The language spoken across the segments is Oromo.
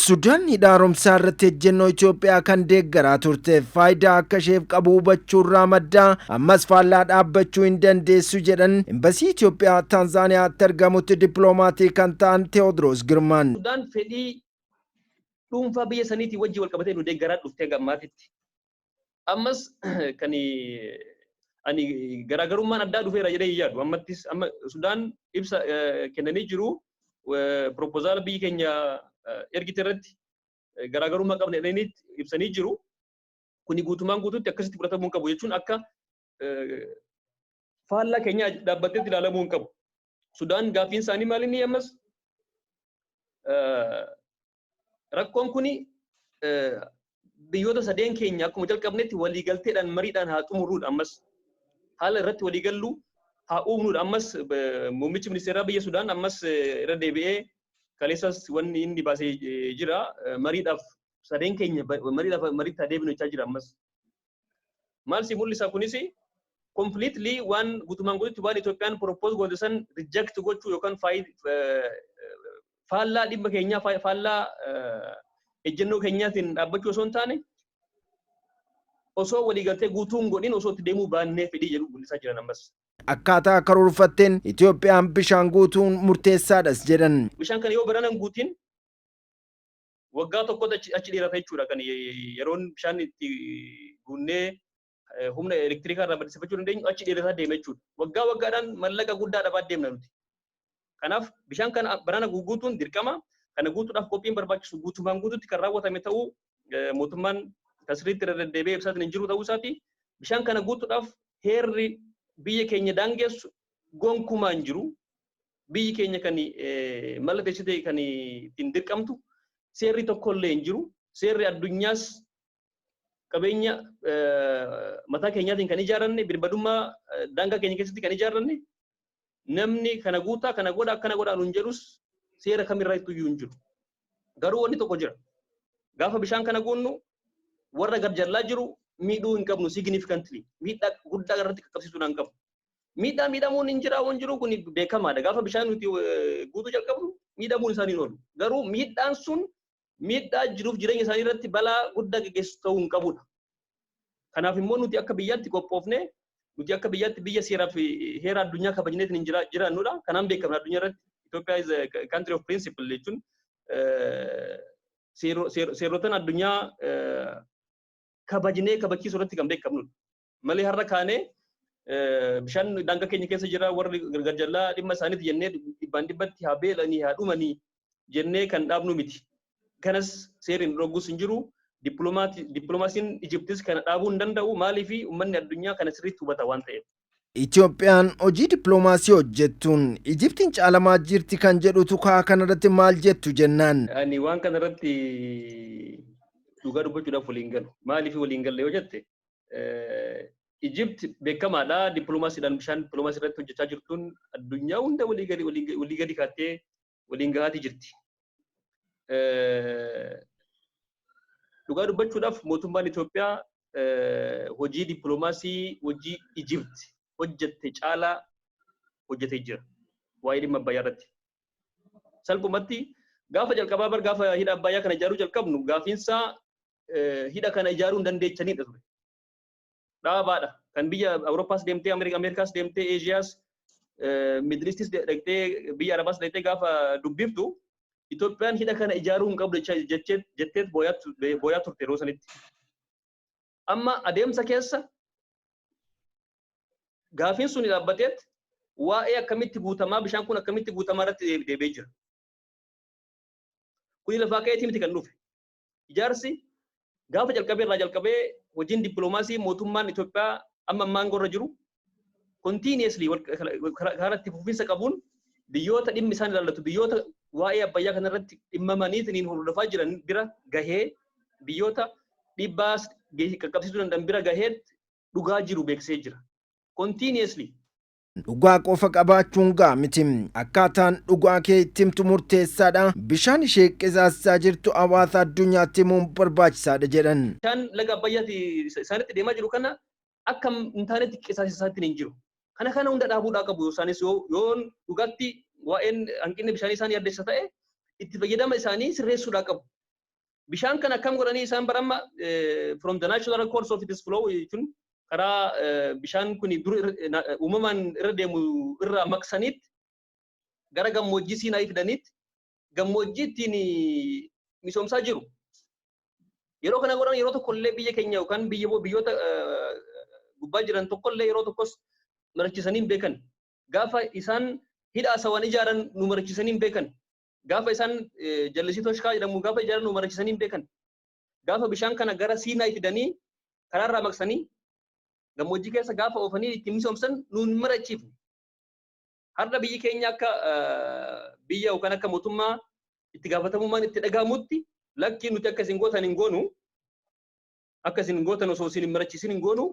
Sudaan hidha haaromsaa irratti ejjennoo Itoophiyaa kan deeggaraa turte faayidaa akka isheef qabu hubachuurraa madda ammas faallaa dhaabbachuu hin dandeessu jedhan imbasii Itoophiyaa Taanzaaniyaatti argamutti dippiloomaatii kan ta'an Teewodiroos Girmaan. Sudaan fedhii dhuunfaa biyya saniitiin wajjin wal qabatee nu deeggaraa dhuftee gammaatitti Ammas kan ani garaagarummaan addaa dhufeera jedhee hin yaadu. Ammattis amma Sudaan ibsa kennanii jiru. Piroopozaala biyyi keenya ergite irratti garaagarummaa qabna jedhanii ibsanii jiru. Kuni guutumaan guutuutti akkasitti fudhatamuu hin qabu jechuun akka faallaa keenya dhaabbatteetti ilaalamuu hin qabu. Sudaan gaaffiin isaanii maal inni ammas rakkoon kuni biyyoota sadeen keenya akkuma jalqabnetti waliigalteedhaan mariidhaan haa xumurruudha ammas haala irratti waliigallu haa uumnuudha ammas muummichi ministeeraa biyya Sudaan ammas irra deebi'ee kaleessas wanni inni baasee jira mariidhaaf sadeen keenya mariidhaaf mariitti haa deebinu jechaa jira ammas Maal si mul'isa kunis completely waan gutumaan gututti waan Itoophiyaan propose goote san reject gochuu yookaan faallaa dhimma keenyaa faallaa ejjennoo keenyaatiin dhaabbachuu osoo hin taane osoo waliigaltee guutuun godhin osoo itti deemuu baannee fedhii jedhu mul'isaa jiran ammas. Akkaataa karoorfatteen Itoophiyaan bishaan guutuun murteessaadhas jedhan. Bishaan kana yoo baranan guutiin waggaa tokkotti achi, achi dheerata jechuudha kan yeroon bishaan itti guunnee eh, humna elektirikaa irraa maddisiifachuu dandeenyu achi dheerataa deema jechuudha. Waggaa waggaadhaan mallaqa guddaa dhabaa deemna nuti. Kanaaf bishaan kana barana guutuun dirqama kana guutuudhaaf qophiin barbaachisu guutumaan guututti kan raawwatame ta'uu eh, mootummaan kan sirriitti irra deddeebi'ee ibsaatiin hin jiru ta'uu isaati. Bishaan kana guutuudhaaf heerri biyya keenya daangessu gonkumaa hin jiru. biyyi keenya kan mallatteessitee kan ittiin dirqamtu seerri tokko illee hin jiru. Seerri addunyaas qabeenya mataa keenyaatiin kan ijaaranne birbadummaa daangaa keenya keessatti kan ijaaranne namni kana guutaa kana godha akkana godha nuun jedhus seera kamirraa itti iyyuu hin jiru. Garuu wanni tokko jira. Gaafa bishaan kana guunnu warra gad jallaa jiru miidhuu hin qabnu significantly miidhaa guddaa irratti qaqqabsiisuu hin qabnu. Miidhaa miidhamuun hin jiraa hin jiru kun beekamaadha. Gaafa bishaan nuti guutuu jalqabnu miidhamuun isaanii hin oolu. Garuu miidhaan sun miidhaa jiruuf jireenya isaanii irratti balaa guddaa geggeessu ta'uu hin qabudha. Kanaaf immoo nuti akka biyyaatti qophoofnee nuti akka biyyaatti biyya seeraa fi heera addunyaa kabajneetiin hin jira- jiraannudha. Kanaan beekamna addunyaa irratti Itoophiyaa is a country of principle jechuun eh, seero- seero- seerotan addunyaa eh, kabajnee kabachiisuu irratti kan beekamnudha. Malee har'a kaanee bishaan daangaa keenya keessa jira warri gargar jallaa dhimma isaaniiti jennee dhibbaan dhibbatti haa beelanii haa dhumanii jennee kan dhaabnu miti. Kanas seerri nu dhoggus hin jiru. Dippiloomaasiin Ijiptis kana dhaabuu hin danda'u. Maaliif uummanni addunyaa kana sirriitti hubata waan ta'eef. Itoophiyaan hojii dippiloomaasii hojjettuun Ijiptiin caalamaa jirti kan jedhutu kaa kanarratti maal jettu jennaan. Ani waan kanarratti dhugaa dubbachuudhaaf waliin galu. Maaliif waliin galle yoo jette Ijipt beekamaadha dippiloomaasiidhaan bishaan dippiloomaasii irratti hojjechaa jirtuun addunyaa hunda walii gadi walii gadi kaattee waliin gahaatii jirti. Dhugaa dubbachuudhaaf mootummaan Itoophiyaa hojii dippiloomaasii hojii Ijipt hojjette caalaa hojjetee jira. Waa'ee dhimma Abbayyaa irratti. Salphumatti gaafa jalqabaa bar gaafa hidha Abbayyaa kana ijaaruu jalqabnu gaafiinsaa hidha kana ijaaruu hin dandeechanidha ture. Dhaabaadha. Kan biyya Awurooppaas deemtee, Ameerikaas deemtee, Eeshiyaas, Midilistis dhaqxee, biyya Arabaas dhaqxee gaafa dubbiftu Itoophiyaan hidha kana ijaaruu hin qabdu jetteet booyaa turte yeroo sanitti. Amma adeemsa keessa gaafiin sun dhaabbateet waa'ee akkamitti guutamaa bishaan kun akkamitti guutamaa irratti deebi'ee jira. Kuni lafaa ka'eetii miti kan dhufe. ijaarsi gaafa jalqabee irraa jalqabee hojiin dippiloomaasii mootummaan Itoophiyaa amma ammaa aangoo irra jiru continuously wal- kara- kara- karaa itti fufiinsa qabuun biyyoota dhimmi isaan ilaallatu biyyoota waa'ee abbayyaa kana irratti dhimmamaniitiin hordofaa jiran bira gahee biyyoota dhiibbaa s- ge- qaqqabsiisuu danda'an bira gahee dhugaa jiru beeksisee jira. Continuously Dhugaa qofa qabaachuun ga'a miti. Akkaataan dhugaa kee itti himtu murteessaadha. Bishaan ishee qisaassaa jirtu hawaasa addunyaatti himuun barbaachisaadha jedhan. Bishaan laga Abbayyaati isaanitti deemaa jiru kana akka hin taanetti qisaasessa isaanitti hin jiru. Kana kana hunda dhaabuudhaa qabu isaanis yoo dhugaatti waa'een hanqinni bishaanii isaan yaaddessa ta'e itti fayyadama isaanii sirreessuudhaa qabu. Bishaan kana akkam godhanii isaan bara amma from the natural course of its flow jechuun karaa bishaan kun dur uumamaan irra deemu irraa maqsaniitti gara gammoojjii siinaa fidaniitti gammoojjii ittiin misoomsaa jiru. Yeroo kana godhan yeroo tokko illee biyya keenya yookaan biyya biyyoota gubbaa jiran tokko illee yeroo tokkos marachisanii hin beekan. Gaafa isaan hidha asawan ijaaran nu marachisanii hin beekan. Gaafa isaan jallisii toshkaa jedhamu gaafa ijaaran nu marachisanii hin beekan. Gaafa bishaan kana gara Siinaayi fidanii karaarraa maqsanii gammoojjii keessa gaafa oofanii ittiin misoomsan nu hin marachiifne. Har'a biyyi keenya akka biyya yookaan akka mootummaa itti gaafatamummaan itti dhaga'amutti lakkii nuti akka isin gootan hin goonu akka isin gootan osoo isin hin marachiisin hin goonu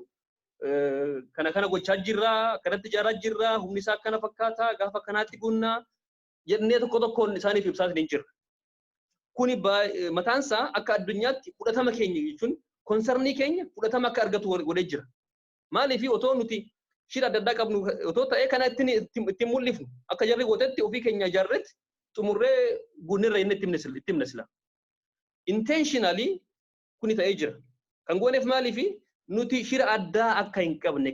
kana kana gochaa jirra kanatti ijaaraa jirra humni isaa akkana fakkaata gaafa kanaatti guunnaa jennee tokko tokkoon isaaniif ibsaa isiniin jirra. Kuni mataan isaa akka addunyaatti fudhatama keenya jechuun konsarnii keenya fudhatama akka argatu godhee jira. Maaliif otoo nuti shira adda addaa qabnu otoo ta'ee kana ittiin mul'ifnu akka jarri gootetti ofii keenya ijaarretti xumurree guunnirra inni itti himna sila. Intentionally kuni ta'ee jira. Kan gooneef maaliif nuti shira addaa akka hin qabne